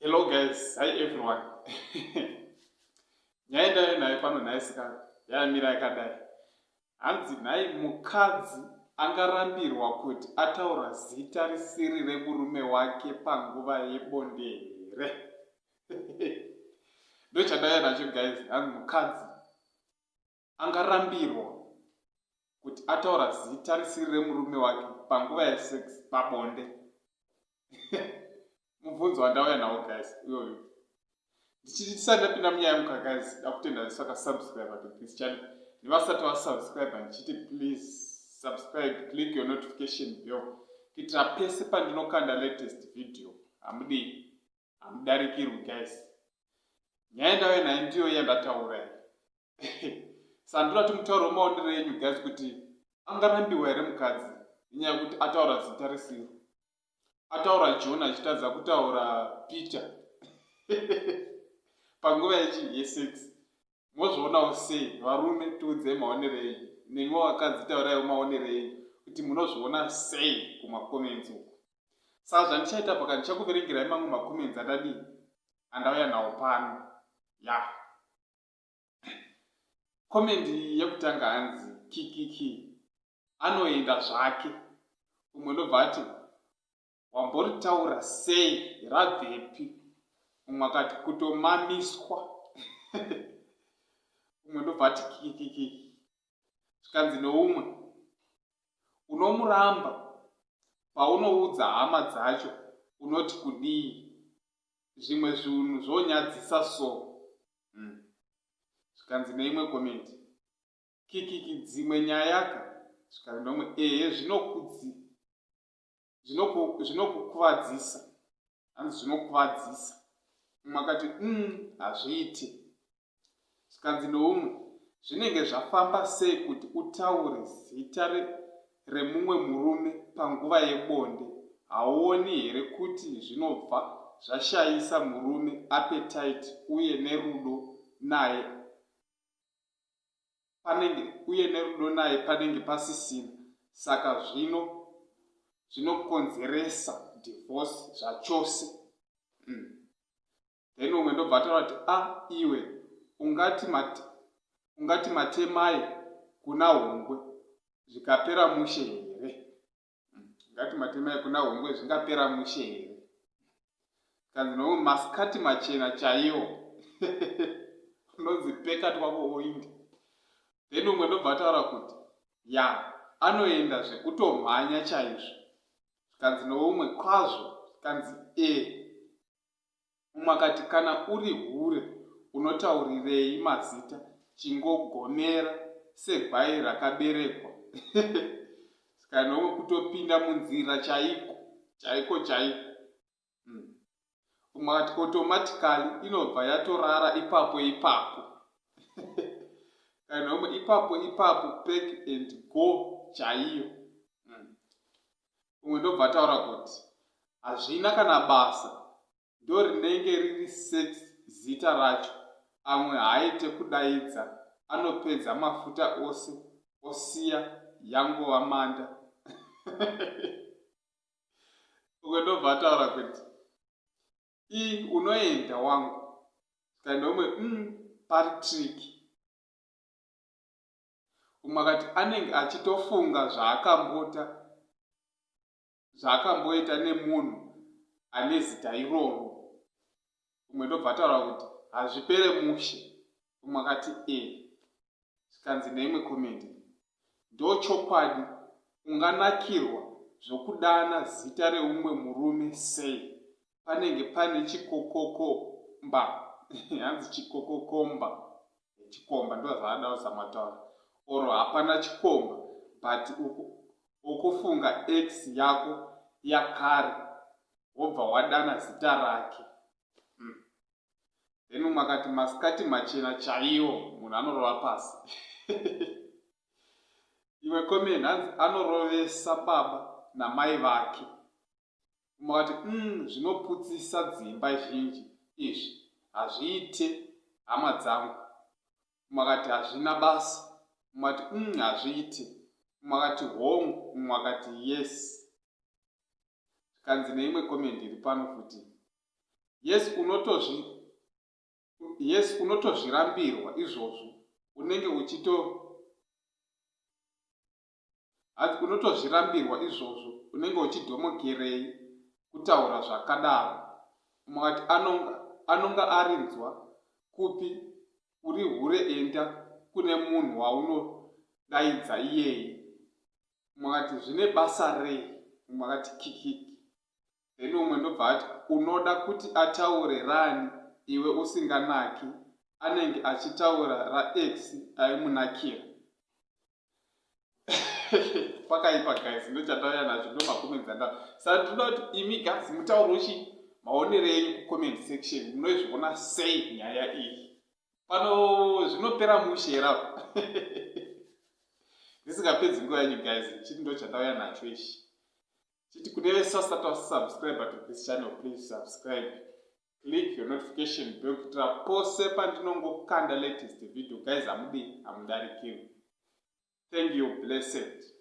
Hello guys, hi everyone. Nyaya ndayo nayo pano nhai sikana yamira yakadai. Hanzi nhai mukadzi angarambirwa kuti ataura zita risiri remurume wake panguva yebonde here? Ndochandaya nacho guys, hanzi mukadzi angarambirwa kuti ataura zita risiri remurume wake panguva yesex pabonde mubvunzo wandauya nawo guys iyoyo ndichiti tisati ndapinda munyaya yemuka guys dakutenda vese vakasubscribe to this channel nevasati vasubscribe ndichiti please subscribe click your notification bell kuitira pese pandinokanda latest video hamudii Hamudarikirwi guys. Nyaya ndave nayo ndiyo yandataura iyi. Sandura timutauro maonero enyu guys kuti angarambiwa here mukadzi nenyaya yekuti ataura zita risiro. Ataura John achitadza kutaura Peter. Panguva yechi yesex. mozvionawo sei varume tiudzei maonerei nemiwo vakadzi tauraiwo maonerei kuti munozviona sei kumacomments uku saa zvandichaita paka ndichakuverengerai mamwe macomments andadii andauya nawo pano ya komendi yekutanga hanzi kikiki anoenda zvake umwe ndobva ati wamboritaura sei rabvepi umwe akati kutomamiswa umwe ndobva ati kikikiki zvikanzi noumwe unomuramba paunoudza hama dzacho unoti kudii zvimwe zvinhu zvonyadzisa so hmm. zvikanzi mm. neimwe komenti kikiki dzimwe nyayaka zvikanzi nomwe ehe zvinokudzii zvinokukuvadzisa zvinoku hanzi zvinokuvadzisa umwe akati um hazviiti zvikanzi noumwe zvinenge zvafamba sei kuti utaure zita remumwe murume panguva yebonde hauoni here kuti zvinobva zvashayisa murume apetite uye nerudo naye panenge uye nerudo naye panenge pasisina saka zvino zvinokonzeresa divorce zvachose mm. then umwe ndobva ataura kuti a ah, iwe ungati mat, ungati matemai kuna hungwe zvikapera mushe here Mm, ngati matemai kuna hongwe zvingapera mushe here kanzi no maskati machena chaiwo unonzi peka twako oindi then umwe ndobva ataura kuti ya anoenda zvekutomhanya chaizvo zvikanzi noumwe kwazvo zvikanzi e mumwe akati kana uri hure unotaurirei mazita chingogonera segwai rakaberekwa ska nomwe kutopinda munzira chaiko chaiko chaiko mm. umwe akati automatically inobva yatorara ipapo ipapo kana nomwe ipapo ipapo pack and go chaiyo umwe ndobva ataura kuti hazvina kana basa ndo rinenge riri sex zita racho amwe haaite kudaidza anopedza mafuta ose osiya yangova manda umwe ndobva ataura kuti i unoenda wangu kaenda umwe mm, pari triki umwe akati anenge achitofunga zvaakambota zvaakamboita nemunhu ane zita iroro umwe ndobva ataura kuti hazvipere mushe umwe akati e zvikanzi neimwe komedi ndo chokwadi unganakirwa zvokudana zita reumwe murume sei panenge pane chikokokomba hanzi chikokokomba chikomba ndozvaada usamataura or hapana chikomba but ukufunga x yako yakare wobva wadana zita rake hmm. then umwe akati masikati machena chaiwo munhu anorova pasi imwe komeni hanzi anorovesa baba namai vake Umwe akati, Umm zvinoputsisa dzimba zhinji izvi, hazviite hama dzangu. Umwe akati, Hazvina basa. Umwe akati, Umm hazviite. Umwe akati, Hongu. Umwe akati, Yes. Zvikanzi neimwe comment iri pano futi, Yes unotozvi yes unotozvirambirwa izvozvo unenge uchito Hanzi unotozvirambirwa izvozvo unenge uchidhomokerei kutaura zvakadaro umwe akati anonga anonga arinzwa kupi uri hure enda kune munhu waunodaidza iyeye umwe akati zvine basa rei umwe akati kikiki then umwe ndobva ati unoda kuti ataure rani iwe usinganaki anenge achitaura rax aimunakira pakaipa guys ndochatauya nacho ndo macomments anda saka tinoda kuti imi guys mutauro chi maonero enyu kucomment section munoizviona sei nyaya iyi pano zvinopera mushe era ndisingapedzi nguva yanyu guys chii ndo chatauya nacho ichi chiti kune vese vasati vasubscribe to this channel please subscribe click your notification bell kuitira pose pandinongokanda latest video guys hamudi hamudarikirwi thank you blessed